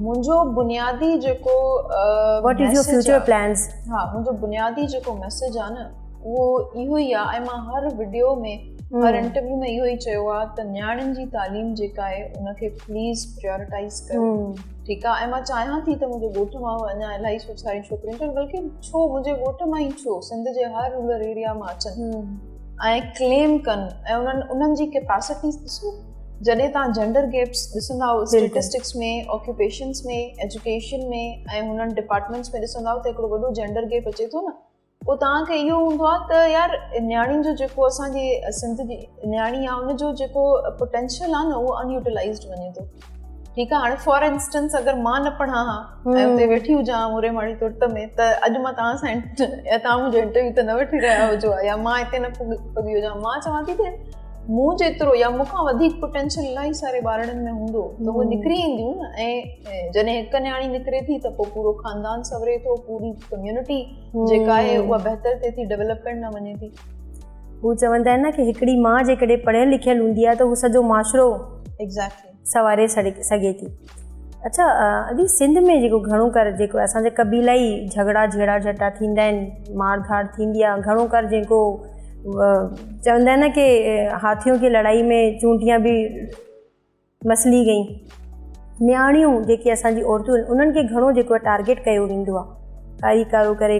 منهنجو بنيادي جيڪو what is your future plans ها منهنجو بنيادي جيڪو ميسج آ نه اهو اهو ئي آ ۽ مان هر وڊيو ۾ هر انٽرويو ۾ اهو ئي چيو آ ته نياڻين جي تعليم جيڪا آهي ان کي پليز پريورٽائز ڪرو ٺيڪ آ ۽ مان چاهيان ٿي ته منهنجو ڳوٺ مان اڃا الاهي سو ساري ڇوڪريون چون بلڪه ڇو منهنجي ڳوٺ مان ئي ڇو سنڌ جي هر رورل ايريا مان اچن ۽ ڪليم ڪن ۽ انهن انهن جي ڪيپاسٽيز ڏسو جڏهن توهان جينڊر گيپس ڏسندا اسٽيٽسٽڪس ۾ آڪيوپيشنس ۾ ايجوڪيشن ۾ ۽ هنن ڊپارٽمنٽس ۾ ڏسندا ته هڪڙو وڏو جينڊر گيپ اچي ٿو نه پوء توهان کي اهو هوندو آهي ته يار نياڻي جو جيڪو اسانجي سنڌ جي نياڻي آهي ان جو جيڪو پوٽينشل آهي نه اهو ان يوٽيلائزڊ وڃي ٿو ٺيڪ آ هاڻي فار انسٽنس اگر مان نه پڙهان ها ۽ اتي ويٺي هجان ها موري ماڙي ترت ۾ ته اڄ مان توهان سان يا توهان منهنجو انٽرويو ته نه وٺي رهيا هجو ها يا مان هتي نه پڳي هجان مان چوان ٿي ته مون جيترو يا مون کان وڌيڪ پوٽينشل الاهي ساري ٻارڙن ۾ هوندو ته هو نڪري اينديون نه ۽ جڏهن هڪ نياڻي نڪري ٿي ته پوء پورو خاندان سوري ٿو پوري ڪميونٽي جيڪا آهي اها بهتر ٿئي ٿي ڊيولپمينٽ ۾ وڃي ٿي هو چوندا آهن نه ڪي هڪڙي ماء جيڪڏهن پڙهيل لکيل هوندي آهي ته هو سڄو معاشرو ايگزيڪٽلي سنواري سگهي ٿي. اڇا ادي سنڌ ۾ جيڪو گهڻو ڪر جيڪو اسان جا قبيلائي جهڳڙا جهيڙا جهٽا ٿيندا آهن مار ڌاڙ ٿيندي آهي گهڻو ڪر جيڪو چوندا آهن نه ڪي هاٿيون کي لڙائي ۾ چونٽيا به مسلي گئي نياڻيون جيڪي اسان جي عورتون انهن کي گهڻو جيڪو ٽارگيٽ ڪيو ويندو آهي ڪاري ڪارو ڪري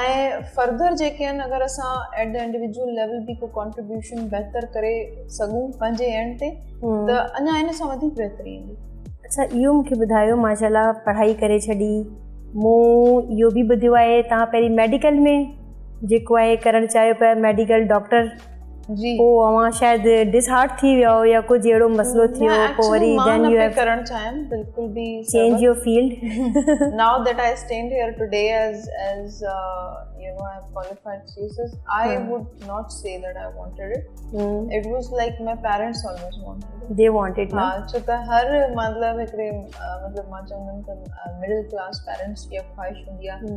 ۽ فرڌر جيڪي آهن اگر اسان ايٽ دي انڊيويجول ليول به ڪو ڪانٽريبيوشن بهتر ڪري سگهون پنهنجي اينڊ تي ته اڃا ان سان وڌيڪ بهتري ايندي اچھا اهو مونکي ٻڌايو ماشاءالله پڙهائي ڪري ڇڏي مون اهو به ٻڌيو آهي تان پهرين ميڊيڪل ۾ جيڪو آهي ڪرڻ چاهيو پيا ميڊيڪل ڊاڪٽر جي پو اوهان شايد ڊس هارٽ ٿي ويا هو يا ڪجهه اهڙو مسئلو ٿي ويو پو وري دين يو هيو ڪرڻ چاهيم بلڪل به change your field now that I stand here today as as you know I have qualified Jesus I would not C that I wanted it it was like my parents always wanted the wanted ها ڇو ته هر مطلب هڪڙي مطلب مان چوندم ته middle class parents جي خواهش هوندي آهي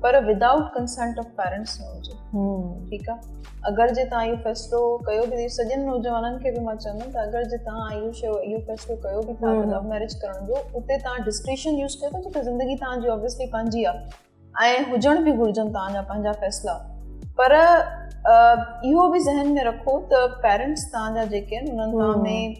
پر ودائوٽ ڪنسنٽ آف پيرنٽس نه هجي ٺيڪ آ اگر جي تان اهو فيصلو ڪيو به سڄن نوجوانن کي به مان چوندم ته اگر جي تان اهو شو اهو فيصلو ڪيو به ٿا ته لو ميرج ڪرڻ جو اتي تان ڊسڪريشن يوز ڪيو ته جيڪا زندگي تان جي اوبيسلي پنهنجي آ ۽ هجڻ به گهرجن تان جا پنهنجا فيصلا پر اهو به ذهن ۾ رکو ته پيرنٽس تان جا جيڪي آهن انهن ۾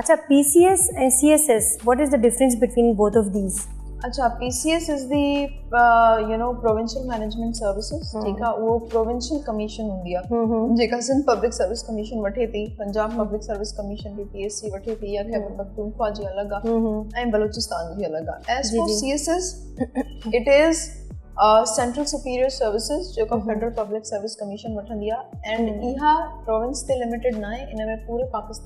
اڇا P C S ۽ C S S what is the difference between both of these اڇا P C S is the you know provincial management services ٺيڪ آ اهو پروونشل ڪميشن هوندي آ جيڪا سنڌ پبلڪ سروس ڪميشن وٺي ٿي پنجاب پبلڪ سروس ڪميشن به پي ايس سي وٺي ٿي يا خيبر پختونخوا جي الڳ آ ۽ بلوچستان جي الڳ آ as for C S S it is central superior services جيڪا فيڊرل پبلڪ سروس ڪميشن وٺندي آ اينڊ اها پروونس تي لميٽيڊ ناهي ان ۾ پوري پاڪستان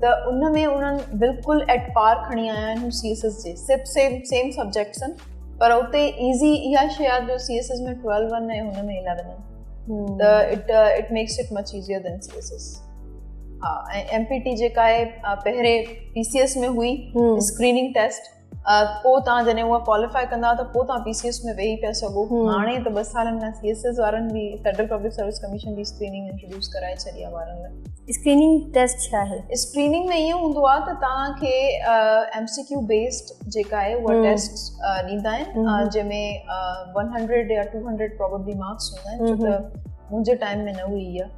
ته ان ۾ انهن بلڪل ايٽ پار کڻي آيا آهن سي ايس ايس جي سب سيم سيم سبجيڪٽس آهن پر اتي ايزي اها شي آهي جو C S S ۾ twelve one ۽ هن ۾ اليون آهن ايم پي ٽي جيڪا آهي پهرين پي سي ايس ۾ هئي اسڪريننگ ٽيسٽ پوء تان جڏهن هو ڪواليفائي ڪندا ته پوء تان پي سي ايس ۾ ويهي پيا سگهو هاڻي ته ٻه سالن کان سي ايس ايس وارن به فيڊرل پبلڪ سروس ڪميشن جي اسڪريننگ انٽروڊيوس ڪرائي ڇڏي آهي وارن لاء اسڪريننگ ٽيسٽ ڇا آهي اسڪريننگ ۾ ائين هوندو آهي ته توهان کي ايم سي ڪيو بيسڊ جيڪا آهي اها ٽيسٽ ڏيندا آهن جنهن ۾ ون هنڊريڊ يا ٽو هنڊريڊ پروبلي مارڪس هوندا آهن ڇو ته منهنجي ٽائيم ۾ نه هئي اها